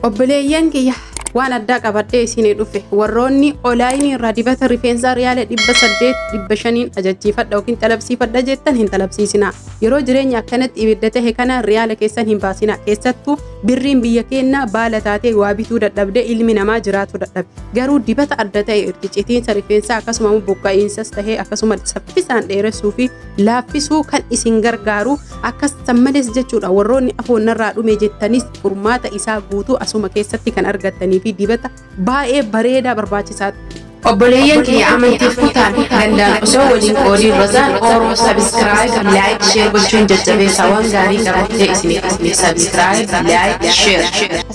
Obboleeyyan kiyya waan addaa qabadhee isinii dhufe warroonni olaayinii irraa dibata rifeensaa riyaala dhibba saddeet dhibba shaniin ajachiifadha yookiin xalabsiifadha jettan hin xalabsiisina yeroo jireenya akkanatti ibidda tahe kana riyaala keessan hin baasina keessattuu birriin biyya keennaa baala taatee waa bituu dadhabde ilmi namaa jiraatu dadhabe garuu dibata adda ta'e itti citiinsa rifeensaa akkasuma buqqa'iinsas tahee akkasuma saffisaan dheeressuu fi laaffisuu kan isin gargaaru akkas san malees jechuudha warroonni afoon narraa dhume jettanis furmaata isaa guutuu asuma keessatti kan argattanii fi dibata baay'ee bareedaa barbaachisaa Obboleeyyan kiyya amantiif kutaan danda'an osoo waliin qoodii rozaan ooroo sabiskiraayib laayik sheer gochuun jajjabeessaa waan gaarii qabattee isiniif isiniif sabiskiraayib laayik sheer.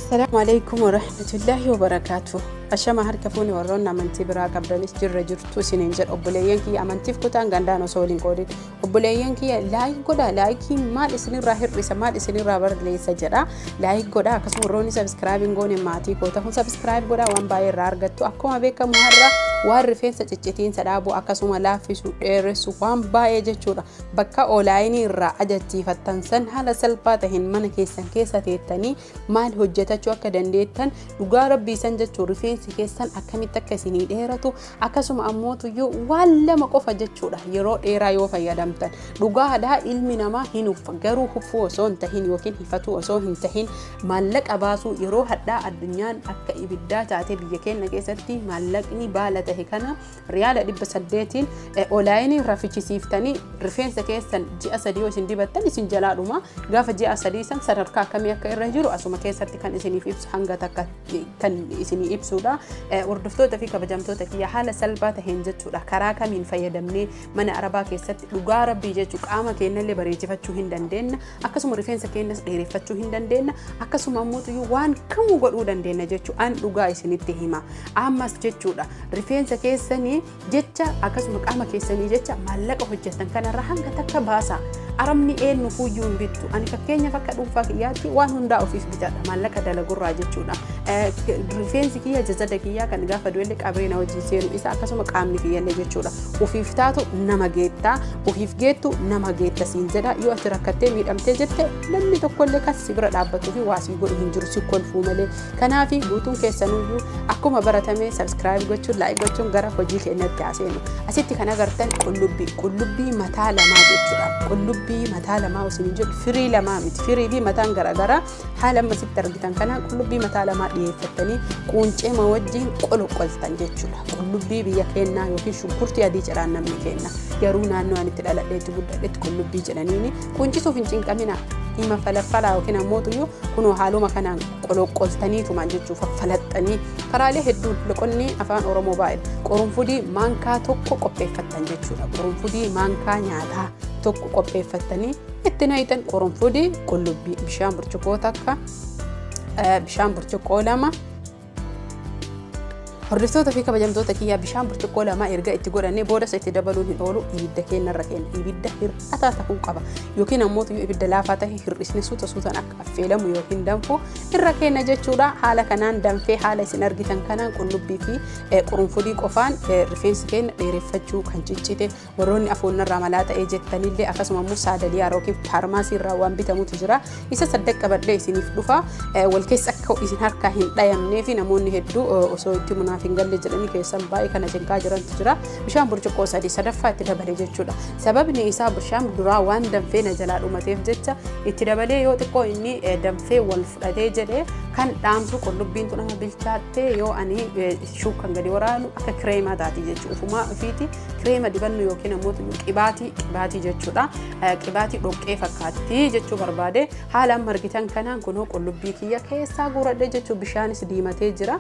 Assalaamu alaikum warahmatullaahi wabarakaatu. Ashama harka fuuni warroonni amantii biraa qabdanis jirra jirtu. tu isiniin jedha obboleeyyan kiyya amantiif kutaan gandaan osoo waliin qoodin obboleeyyan kiyya laayik godha laayikii maal isinirraa hir'isa maal isinirraa barreessa jedha laayik godha akkasuma warroonni sabiskiraayib hin goone maatii koo ta'uun sabiskiraayib godha waan baay'ee irraa argattu akkuma beekamu har'a waan rifeensa ciccitiinsa dhaabuu akkasuma laaffisu dheeressu waan baay'ee jechuudha bakka oolaayinii irraa ajachiifattan san haala salphaa ta'een mana keessan keessa teettanii maal hojjetachuu akka dandeettan dhugaa rabbii san jechuun rifeensi keessan akkamitti akka isinii dheeratu akkasuma ammootuyyuu waan lama qofa jechuudha yeroo dheeraa yoo fayyadamtan dhugaadhaa ilmi namaa hin uffa garuu huffuu osoo hin tahin yookiin hifatuu osoo hin tahin maallaqa baasuu yeroo hadhaa addunyaan akka ibiddaa taate biyya keenya keessatti maallaqni baala tahe kana Riyaala 800n olaayiniin rafichisiiftanii rifeensa keessan ji'a sadii yoo isin dibattan isin jalaa dhuma gaafa ji'a sadii san sadarkaa akkamii akka irra jiru asuma keessatti kan isiniif ibsu hanga takka kan isinii ibsuudha. Hordoftoota fi kabajamtoota kiyya haala salphaa taheen jechuudha karaa kamiin fayyadamnee mana arabaa keessatti dhugaa rabbii jechuu qaama keenyallee bareechifachuu hin dandeenna akkasuma rifeensa keenyas dheereffachuu hin dandeenna akkasuma ammoo waan kamuu godhuu dandeenna jechuu an dhugaa isinitti hima ammas jechuudha rifeensa keessanii jecha akkasuma qaama keessanii jecha maallaqa hojjetan kanarra hanga takka baasa arabni eenyu fuyyuu hin bittu ani fakkeenyaaf akka dhuunfaa kiyyaatti waan hundaa ofiif bitadha maallaqa dalagurraa jechuudha rifeensi kiyya jazada kiyyaa kan gaafa du'ellee qabreena wajjin seenu isa akkasuma qaamni kiyyallee jechuudha ofiif taatu nama geettaa Ofiif geettu nama geetta siin jedha yoo ati rakkattee miidhamtee jette namni tokkollee kan si bira dhaabbatuu fi waa sii godhu hin jiru si kolfuu malee. Kanaaf guutuun keessanuyyuu akkuma baratame sabiskiraayib gochuun laayik gochuun gara hojii keenyatti haa seenu. Asitti kan agartan qullubbii qullubbii mataa lamaa jechuudha. Qullubbii mataa lamaa osoo hin jedhu firii lamaa miti firii fi mataan garaagaraa Haala amma sitti argitan kanaan qullubbii mataa lamaa dhiyeeffattanii quunceema wajjin qoloqoltan jechuudha. Qullubbii biyya keenyaa yookiin shunkurtii adii ciraan namni keenna. Garuu naannoo ani itti dhaladhee itti guddadhetti qullubbii jedhaniini quuncisuuf hin cinqaminaa. Hima falaffalaa yookiin ammoo tuyyuu kunoo haaluma kanaan qoloqoltanii tumaan jechuuf faffalaxxanii karaalee hedduun loqonni afaan Oromoo baay'ee qorunfudii maankaa tokko qopheeffattan jechuudha. Qorunfudii maankaa nyaataa tokko qopheeffattanii Itti nayitan qurunfudii qullubbii bishaan burcuqqoo takka bishaan burcuqqoo lama Hordoftoota fi kabajamtoota kiyyaa bishaan burcuqqoo lamaa erga itti godhannee boodas itti dabaluun hin oolu ibidda keenya irra keenya ibidda hir'ataa ta'uu qaba yookiin ammoo yoo ibidda laafaa ta'e hir'isni suuta suutaan akka affeelamu yookiin danfu irra keenya jechuudha haala kanaan danfee haala isin argitan kanaan qullubbii fi qurunfudii qofaan rifeensi keenya dheereffachuu kan ciccite Warroonni afoon narraa malaa ta'ee jettanillee akkasuma immoo saadaliyaa yookiin faarmaasii irraa waan bitamutu jira. Isa saddeq qabadhee isiniif dhufa. Wal keessa akka isin harkaa hin dhayamnee fi namoonni hedduu osoo itti munaaf hin galle jedhanii keessan baay'ee kana cinqaa jirantu jira. Bishaan burcuqqoo sadii sadaffaa itti dabale jechuudha. Sababni isaa bishaan duraa waan danfee na jalaa dhumateef jecha itti dabalee yoo xiqqoo inni danfee wal fudhatee jedhee kan dhaamsu qullubbiin tun amma bilchaattee yoo ani shuukan gadi waraanu akka kireemaa taati jechuudha. Ufumaa ofiiti kireema dibannu yookiin ammoo qibaatii qibaatii jechuudha. Qibaatii dhoqqee fakkaatti jechuu barbaade haala amma argitan kanaan kunoo qullubbii kiyya keessaa guuradhe jechuu bishaanis diimatee jira.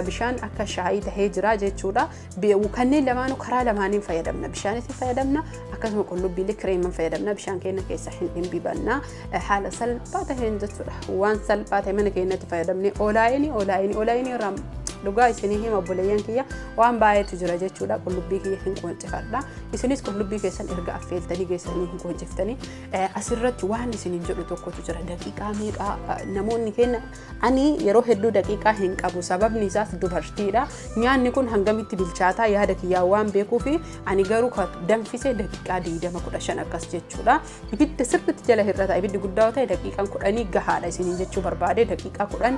Bishaan akka shaayii tahee jira jechuudha. Kanneen lamaanuu karaa lamaaniin fayyadamna. Bishaanis fayyadamna akkasuma qullubbiilee kireeman fayyadamna. Bishaan keenya keessa hin dhimbibanna. Haala salphaa taheen jechuudha. Waan salphaa ta'e mana keenyatti fayyadamne olaayini olaayini olaayini irraa dhugaa isinii hima obboleeyyan kiyya Waan baay'eetu jira jechuudha. Qullubbii kiyya hin qooncifadha. Isinis qullubbii keessan erga affeeltanii geessanii hin qoonchiftanii asirratti waan isiniin jedhu tokkotu jira. Daqiiqaa meeqaa namoonni keenya ani yeroo hedduu daqiiqaa hin qabu sababni isaas dubartiidha. Nyaanni kun hangamitti bilchaataa yaada kiyyaa waan beekuuf ani garuu danfisee daqiiqaa 20-15 akkas jechuudha. Ibidda sirriitti jala hir'ata. Ibiddi guddaa yoo ta'e daqiiqaan 10 gahaadha isiniin jechuu barbaade daqiiqaa 10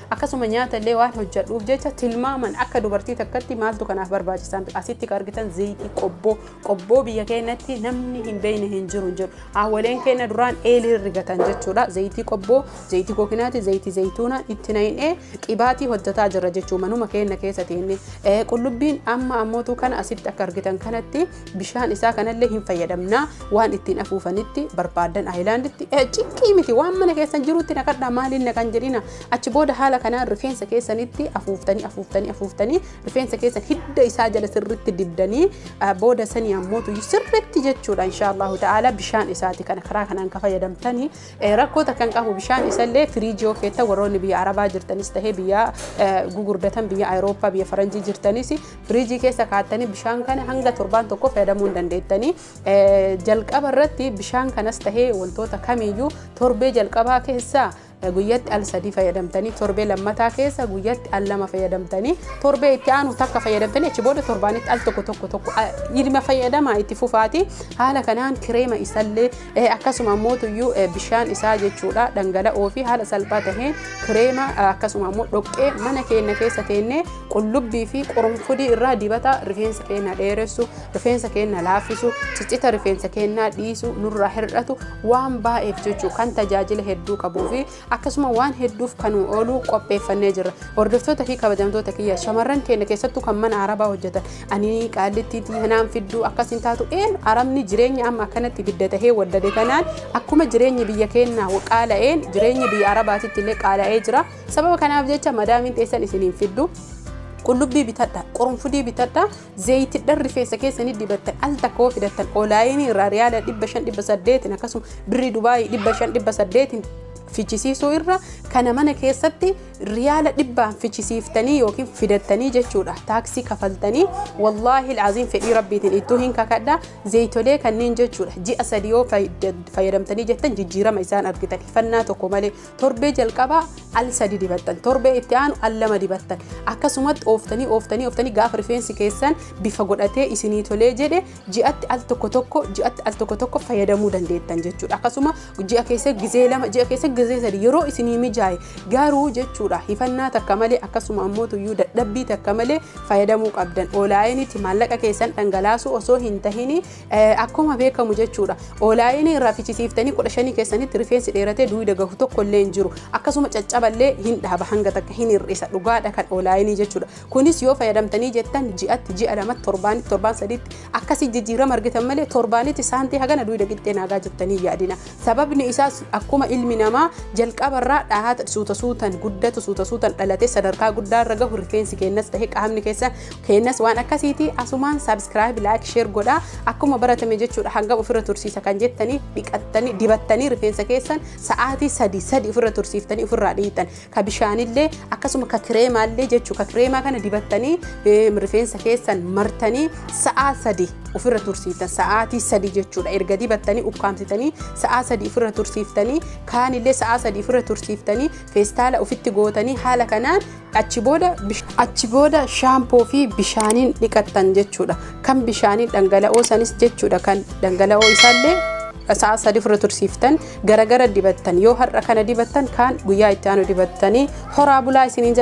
Akkasuma nyaata illee waan hojjadhuuf jecha tilmaaman akka dubartii takkatti maaltu kanaaf barbaachisaan asitti kan argitan zayitii qobboo qobboo biyya keenyatti namni hin beekne hin jiru hin jiru haawwaleen keenya duraan eelii rigatan jechuudha zayitii qobboo zayitii kookinaati zayitii zayituuna itti na'inee qibaatii hojjataa jirra jechuu manuma keenya keessatti inni qullubbiin amma ammootu kana asitti akka argitan kanatti bishaan isaa kanallee hin fayyadamna waan ittiin afuufanitti barbaadan aayilaanditti ciqqii miti waan mana keessan jirutti naqadhaa maaliin naqan jedhina achi booda haala kanaan rifeensa keessanitti afuuftanii afuuftanii afuuftanii rifeensa keessan hidda isaa jala sirritti dibdanii booda sanii ammootu sirritti jechuudha inshaallahu ta'ala bishaan isaati kana karaa kanaan ka fayyadamtanii rakkoo takka hin qabu bishaan isallee firiijii keetta warroonni biyya arabaa jirtanis tahee biyya gugurdatan biyya ayirooppaa biyya faranjii jirtanis Firiijii keessa kaattanii bishaan kana hanga torbaan tokko fayyadamuu hin dandeettanii. Jalqaba irratti bishaan kanas tahee wantoota kamiyyuu torbee jalqabaa keessaa guyyatti al sadii fayyadamtanii torbee lammataa keessa guyyatti al lama fayyadamtanii torbee itti aanu takka fayyadamtanii achi booda torbaanitti al tokko tokko tokko ilma fayyadamaa itti fufaati haala kanaan kireema isallee Ee akkasuma ammoo tuyyuu bishaan isaa jechuudha dhangala'oo fi haala salphaa taheen kireema akkasuma ammoo dhoqqee mana keenya keessa teennee qullubbii fi qurunfudii irraa dibata rifeensa keenya dheeressu rifeensa keenya laaffisu ciccita rifeensa keenyaa dhiisu nurraa hir'atu waan baay'eef jechuu kan tajaajila hedduu qabuu fi akkasuma waan hedduuf kan nu ooluu qopheeffannee jirra. Hordoftoota fi kabajamtoota kiyya shamarran keenya keessattuu kan mana arabaa hojjetan ani qaallitti hanaan fidduu akkas hin taatu een arabni jireenya amma akkanatti bidda tahee waddade kanaan akkuma jireenyi biyya keenyaa qaala'een jireenyi biyya arabaatitti illee qaala'ee jira. Sababa kanaaf jecha madaamiin teessan isiniin fiddu. qullubbii bitadha qurunfudii bitadha Zayitidhan rifeensa keessanii dibattan al takka yoo fidattan olaayinii irraa riyaala 500-800 akkasuma birrii Dubaayii 500-800 fichisiisuu irra kana mana keessatti riyaala dhibbaan fichisiiftanii yookiin fidattanii jechuudha taaksii kafaltanii wallaahi ilaaziin fedhii rabbiitiin ittuu hin kakadha zayitolee kanneen jechuudha ji'a sadii yoo fayyadamtanii jettan jijjiirama isaan argitan hifannaa tokko malee Torbee jalqabaa al sadi dibattan torbee itti aanu al lama dibattan akkasumatti ooftanii ooftanii ooftanii gaafa rifeensi keessan bifa godhatee isinii tolee jedhe ji'atti al tokko tokko ji'atti al tokko tokko fayyadamuu dandeettan jechuudha akkasuma ji'a keessa gizee lama ji'a keessa gizee sadi yeroo isinii mijaa'e garuu jechuudha hifannaa takka malee akkasuma ammoo tuyyuu dadhabbii takka malee fayyadamuu qabdan oolaayinitti maallaqa keessan dhangalaasuu osoo hin tahini Akkuma beekamu jechuudha. Oolaayinii irraa fichisiiftanii kudha shanii keessanitti rifeensi dheeratee duwida gahu tokko illee hin jiru. Akkasuma caccaballee hin dhaaba hanga takka hin hir'isa. Dhugaadha kan oolaayinii jechuudha. Kunis yoo fayyadamtanii jettan ji'atti ji'a lamatti torbaanitti torbaan sadiitti akkasii jijjiirama argitan malee torbaanitti saantii hagana duwida qixxee naagaa jettanii yaadina. Sababni isaas akkuma ilmi namaa jalqaba irraa dhahata suuta suutan guddatu suuta suutan dhalatee sadarkaa guddaa irra gahu rifeensi keenyas ta'e qaamni keessa keenyas waan akkasiiti asumaan subscribe like share godhaa akkuma baratame jechuudha hangam ofirra tursiisa kan jettanii dhiqattanii dibattanii rifeensa keessan sa'aatii sadii sadii ofirra tursiiftanii ofirraa dhiitan ka bishaanillee akkasuma ka kireemaallee jechuu ka kireemaa kana dibattanii rifeensa keessan martanii sa'aa sadi ofirra tursiiftan sa'aatii sadi jechuudha erga dibattanii ukkaamsitanii sa'aa sadi ofirra tursiiftanii kaanillee sa'aa sadi ofirra tursiiftanii feestaala ofitti gootanii haala kanaan achi booda achi booda shaampoo fi bishaaniin dhiqattan jechuudha kan bishaaniin dhangala'oo sanis jechuudha kan dhangala'oo isaallee sa'a sadi ofirra tursiiftan garagara dibattan yoo har'a kana dibattan kaan guyyaa itti aanu dibattanii horaa bulaa isiniin jedha.